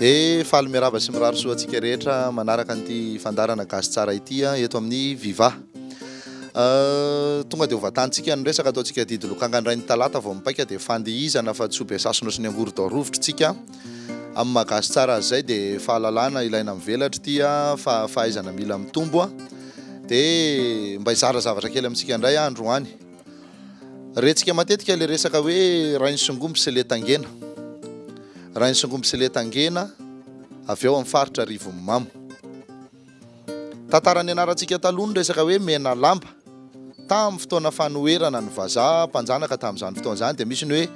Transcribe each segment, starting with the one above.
Dia faly miarahaba sy mirary soa antsika rehetra manaraka an'ity fandarana gasy tsara ity ah, eto amin'ny Viva. Euh, tonga dia hovatantsika ny resaka ataontsika didy lokanga indray ny talata vao mipaika dia fandihizana fa tsy ho be sasona sy ny angorodao rovitra tsika. Amin'ny maha gasy tsara azy izay dia fahalalana ilaina mivelatra ity fa fahaizana mila mitombo dia mba hizara zavatra kely amintsika indray aho androany. Rentsika matetika ilay resaka hoe rain'ny songomby sy le tangena. Rain'ny songomby sy le tangena avy ao amin'ny faritra Rivonimamo. Tantara nianarantsika taloha ny resaka hoe Menalamba. Tamin'ny fotoana fanoherana ny vazaha mpanjanaka tamin'izany fotoana izany dia misy ny hoe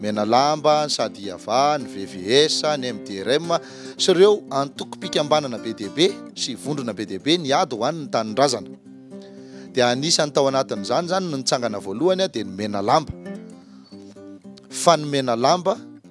Menalamba, ny Sadiava, ny VVS, ny MDRM sy ireo antokom-pikambanana be dia be sy vondrona be dia be niady ho an'ny tanindrazana. Dia anisan'ny tao anatin'izany izany ny nitsangana voalohany dia ny Menalamba. Fa ny Menalamba.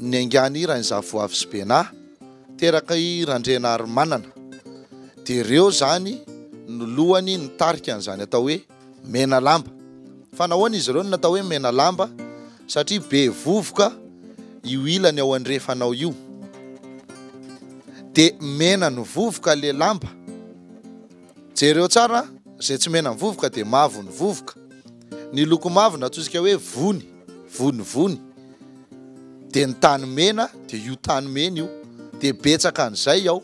Niaingàna i Rainizavoavy sy Benà, teraka i Randrianarimanana, dia ireo izany no lohany nitarika an'izany atao hoe Menalamba. Fa nahoana izy ireo no natao hoe Menalamba? Satria be vovoka io ilany ao andrefanao io. Dia mena ny vovoka le lamba. Jereo tsara an! Izay tsy mena ny vovoka dia mavo ny vovoka. Ny loko mavo no antsointsika hoe vony. vonivony de ny tany mena de io tany mena io de betsaka an'izay ao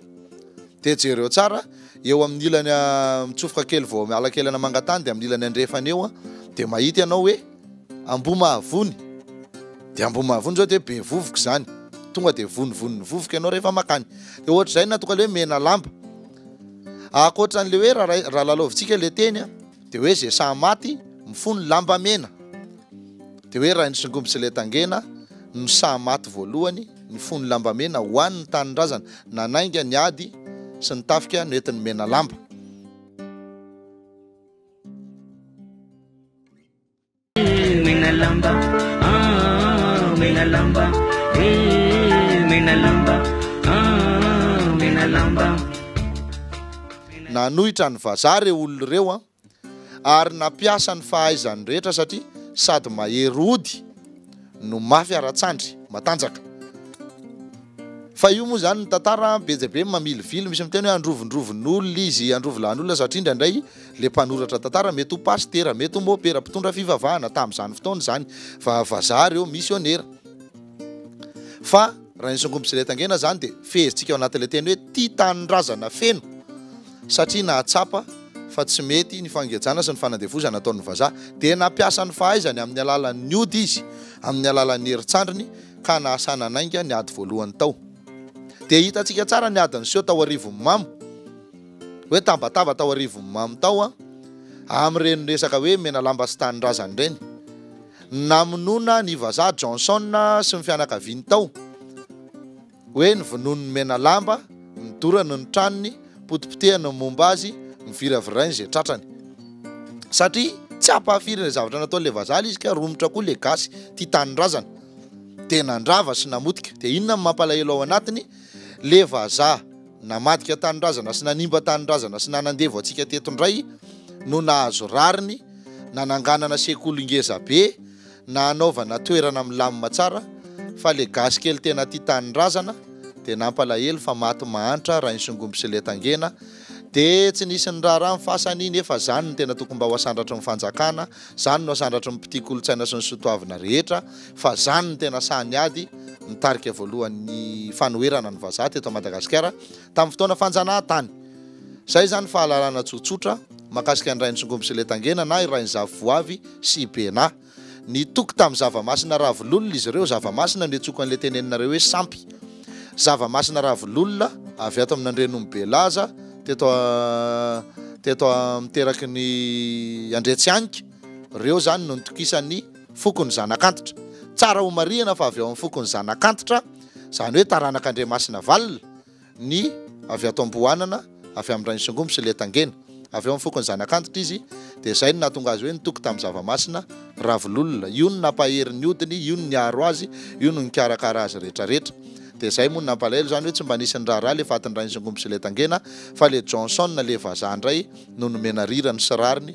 de jereo tsara eo amin'ny ilany ah, mitsofoka kely vao miala kely ana mangatany de amin'ny ilany andrefana eo ah, de mahita ianao hoe ambomahavony de ambomahavony zao de be vovoka izany tonga de vonivony ny vovoka ianao rehefa makany de ohatr'izay na tonga le hoe mena lamba akoatran'le hoe raha lalaovintsika le teny ah, Dia hoe ze saha maty mifono lamba mena Dia hoe rain'i Songomby sy Letangena no saha maty voalohany nifono lamba mena ho an' ny tanindrazana nanainga ny ady sy ny tafika no entiny Menalamba. Mena lamba, ah, mena lamba, eh, mena lamba, ah, mena lamba. Nanohitra ny vazaha ireo olona ireo an, ary nampiasa ny fahaizany rehetra satria sady mahery ody no mafy ara-tsandry, matanjaka. Fa io moa izany ny tantara an, be dia be ny mamilivily, misy miteny hoe androvondrovon'olona izy, androvilahin'olona satria indraindray, Ilay mpanoratra tantara mety ho pasitera, mety ho mopera, mpitondra fivavahana tamin'izany fotoana izany, va vazaha ary eo misionera. Fa raha ny songombintsy ilay tangena izany dia fehezintsika ao anatin'ilay teny hoe tia tanindrazana feno satria nahatsapa fa tsy mety ny fangejana sy ny fanandevozana ataon'ny vazaha dia nampiasa ny fahaizany amin'ny alalan'ny ody izy amin'ny alalan'ny herintsandriny ka nahasana nainga ny ady voalohany tao. Dia hitantsika tsara ny adin'ny seho tao arivon'ny mamo. hoe tambataba tao arivon'i Mamy tao aho amin'ireny resaka hoe Menalamba sy Tanindrazany ireny. Namonoana ny vazaha Johnson sy ny fianakaviany tao hoe novonoin'ny Menalamba, nodorany ny tranony, potipotehany ny momba azy, noviravirainy izay tratrany. Satria tsy hampahafiry ilay zavatra nataon'ilay vazaha ilay izy ka romotra koa ilay gasy tia tanindrazana dia nandrava sy namotika. Dia inona no mampalahelo ao anatiny? Ilay vazaha. namadika tanindrazana sy nanimba tanindrazana sy nanandevo antsika teto indray no nahazo rariny nananganana sekoly ngeza be na anaovana toerana milamina tsara fa le gasy kely tena tia tanindrazana de nampalahelo fa maty mahantra rainsongomby sy letangena de tsy nisy niraharaha ny fasany nefa zany no tena tokony mba ho asandratry ny fanjakana Zany no asandratry ny mpitia kolontsaina sy ny soa toavina rehetra fa zany no tena saha ny ady nitarika voalohany ny fanoherana ny vazaha teto Madagasikara tamin'ny fotoana fanjanahantany. Zay zany fahalalana tsotsotra makasika ny Rainisingoby sy Letangena na i Rainizavoavy sy i Bena. Nitoky tamin'ny zava-masina ravololona izy ireo, zava-masina no iantsoako an'ilay teneninareo hoe sampy. Zava-masina Ravololona avy ato amin'ny Andrianombe Laza teto teto amin'ny teraky ny Andriatsihanky, ireo izany no nitokisan'ny fokon'ny zanak'antitra. Tsara homarihina fa avy ao amin'ny fokon'ny zanak'antitra, izany hoe taranak'Andriamasinavalona, ny avy ato Amboanana, avy amin'ny rain'ny songomby sy Liatangena. Avy ao amin'ny fokon'ny Zanakantitra izy, dia izay no nahatonga azy hoe nitoky tamin'ny zava-masina, Ravololona. Io no nampahery ny hodiny, io no niaro azy, io no nikarakara azy rehetra rehetra. Dia izay moa no nampalahelo izany hoe tsy mba nisy niraharaha ilay fatin'ny rain'ny songomby sy Liatangena, fa ilay Johnson, ilay vazaha indray, no nomena rirany sy rariny,